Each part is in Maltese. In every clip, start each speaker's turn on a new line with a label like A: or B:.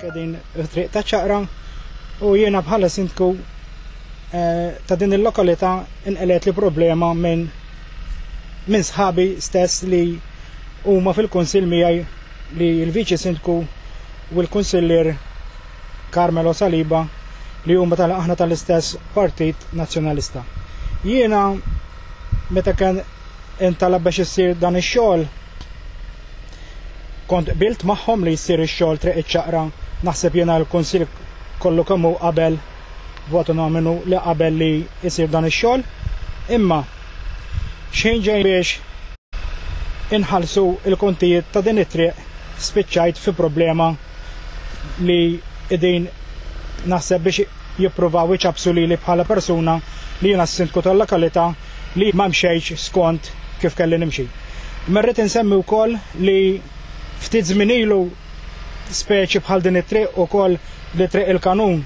A: Kedin triq ta' ċaqra u jiena bħala sindku eh, ta' din il-lokalità inqelet li problema minn minn sħabi stess li huma fil-kunsil miegħi li l-viċi sindku u l-kunsillier Carmelo Saliba li huma tal aħna tal-istess Partit Nazzjonalista. Jiena meta kien intalab biex issir dan ix-xogħol Kont qbilt magħhom li jsir ix-xogħol Triq iċ-Ċaqra, naħseb jiena l-Kunsill kollu kemm hu qabel b'mod unominu li qabel li jsir dan ix-xogħol, imma x'ħin ġej biex inħallsu l-kontijiet ta' din it-triq spiċċajt fi problema li qegħdin naħseb biex jippruvaw iċappsu lili bħala persuna li jiena s-Sindku tal-lokalità li ma mxejtx skont kif kelli nimxi. Imma rrid insemmi wkoll li ftit żmien ilu speċi bħal din it-triq ukoll li triq il-kanun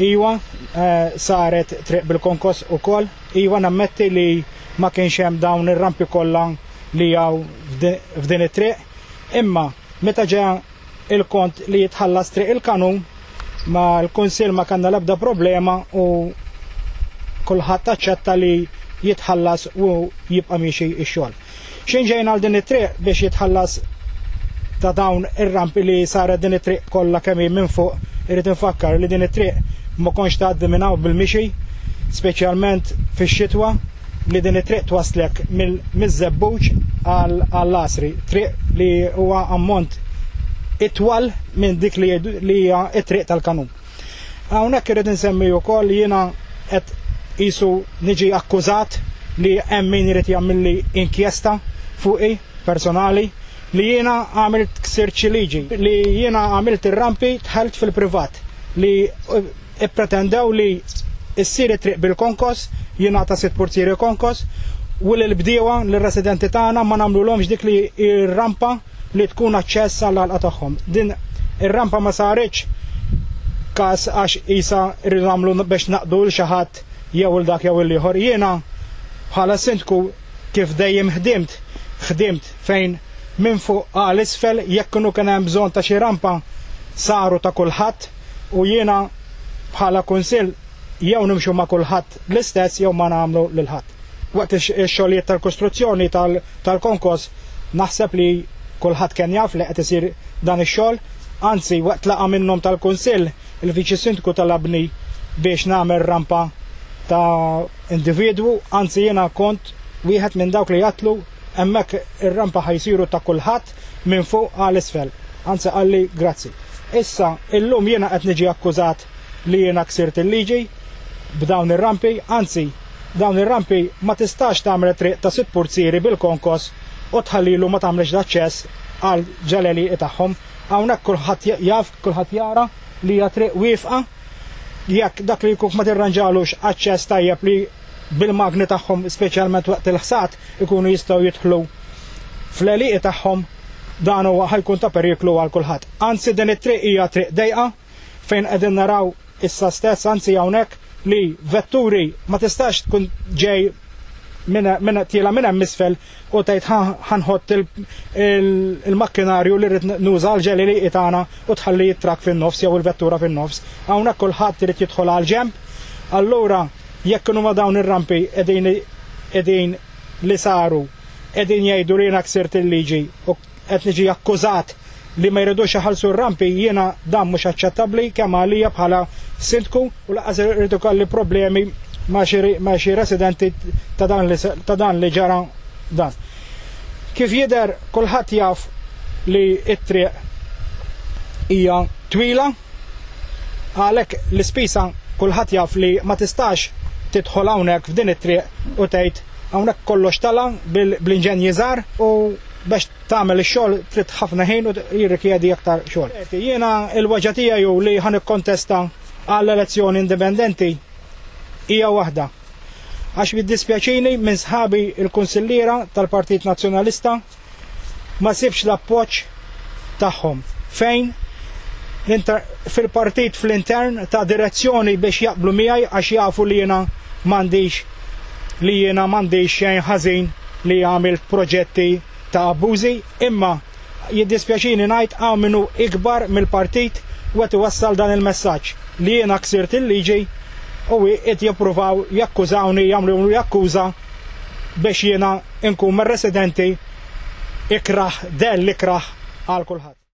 A: iwa eh, saret triq bil-konkos ukoll iwa nammetti li ma kienx hemm dawn ir-rampi kollha li hawn f'din it-triq imma meta ġeja il-kont li jitħallas triq il-kanun ma l-Kunsill ma kellna l-ebda problema u kulħadd aċċetta li jitħallas u jibqa' miexi x-xogħol. Xejn ġejna għal din it-triq biex jitħallas ta' dawn ir-rampi li saret din it-triq kollha kemm hi minn fuq irid infakkar li din it-triq ma kontx tgħaddi minn hawn bil-mixi, speċjalment fix-xitwa. li din it-triq twaslek mill-żebbuġ għall-asri, triq li huwa ammont itwal minn dik li hija t-triq tal-kanun. Hawnhekk irid insemmi wkoll jiena qed qisu niġi akkużat li hemm min irid jagħmilli inkjesta fuqi personali li jiena għamilt ksirċi liġi, li jiena għamilt ir-rampi dħalt fil-privat li Ippretendew li ssir it-triq bil-konkos, jingħata sitt purtieri konkos, u li l-bdiewa, l-residenti tagħna ma nagħmlulhomx dik li r-rampa li tkun aċċess għall-għalqa tagħhom. Din ir-rampa ma saritx każ għax qisha rridu nagħmlu biex naqdu lil xi ħadd jew il dak jew il ieħor. Jiena bħala sindku kif dejjem ħdimt, ħdimt fejn minn fuq għal isfel jekk kienu kien hemm bżonn ta' xi rampa saru ta' kulħadd. U jiena bħala Kunsill jew nimxu ma' kulħadd l-istess jew ma nagħmlu lil ħadd. Waqt ix-xogħlijiet tal-kostruzzjoni tal-konkos naħseb li kulħadd kien jaf li qed isir dan ix-xogħol, anzi waqt laqgħa minnhom tal-Kunsill il-Viċi Sindku talabni biex nagħmel rampa ta' individwu, anzi jiena kont wieħed minn dawk li għattlu Hemmhekk ir-rampa ħa jsiru ta' kulħadd minn fuq għal isfel. Anzi qalli grazzi. Issa, illum jiena qed niġi akkużat li jiena ksirt il-liġi b'dawn ir-rampi, anzi dawn ir-rampi ma tistax tagħmel it-triq ta' sitt purzieri bil-konkos u tħallilu ma tagħmlx l-aċċess għal ġalelieqi tagħhom. Hawnhekk kulħadd jaf, kulħadd jara li hija triq wiefqa. Jekk dak li jkun ma tirranġalux aċċess tajjeb li bil-magni tagħhom speċjalment waqt il-ħsad, ikunu jistgħu jidħlu fl-għelieqi tagħhom dan huwa ħa jkun ta' periklu għal kulħadd. Anzi din it-triq hija triq dejqa fejn qegħdin naraw issa stess anzi hawnhekk li vetturi ma tistax tkun ġej minn tiela minn hemm isfel u tgħid ħanħott il-makkinarju li rrid nuża l-ġeli li tagħna u tħalli t-trak fin-nofs jew il-vettura fin-nofs. Hawnhekk kulħadd irid jidħol għal ġemp. Allura Jekk kienu ma dawn ir-rampi qegħdin qegħdin li saru qegħdin jgħidu li jiena ksirt il-liġi u qed niġi akkużat li ma jridux iħallsu r-rampi, jiena dan mhux aċċettabbli kemm għalija bħala sindku u lanqas irid ikolli problemi ma' xi ma' xi residenti ta' dan li ta' dan li ġara dan. Kif jidher kulħadd jaf li t-triq hija twila Għalhekk l-ispisa kulħadd jaf li ma tistax tidħol hawnhekk f'din it-triq u tgħid hawnhekk kollox tala' bl-inġenji żgħar u biex tagħmel ix-xogħol trid ħafna ħin u jirrikjedi aktar xogħol. Jiena l-weġgħa tiegħi hu li ħa nikkontesta għal elezzjoni indipendenti hija waħda. Għax jiddispjaċini minn sħabi l-Kunsilliera tal-Partit Nazzjonalista, ma sibx l-appoġġ tagħhom. Fejn? Fil-partit fl-intern ta' direzzjoni biex jaqblu miegħi għax jafu li jiena m'għandix li jiena m'għandix xejn ħażin li għamilt proġetti ta' abbużi, imma jiddispjaċini ngħid hawn min hu ikbar mill-partit u qed iwassal dan il-messaġġ li jiena ksirt il-liġi u qiegħed jippruvaw jakkużawni jagħmluli akkuża biex jiena nkun mir-residenti ikrah dell ikrah għal kulħadd.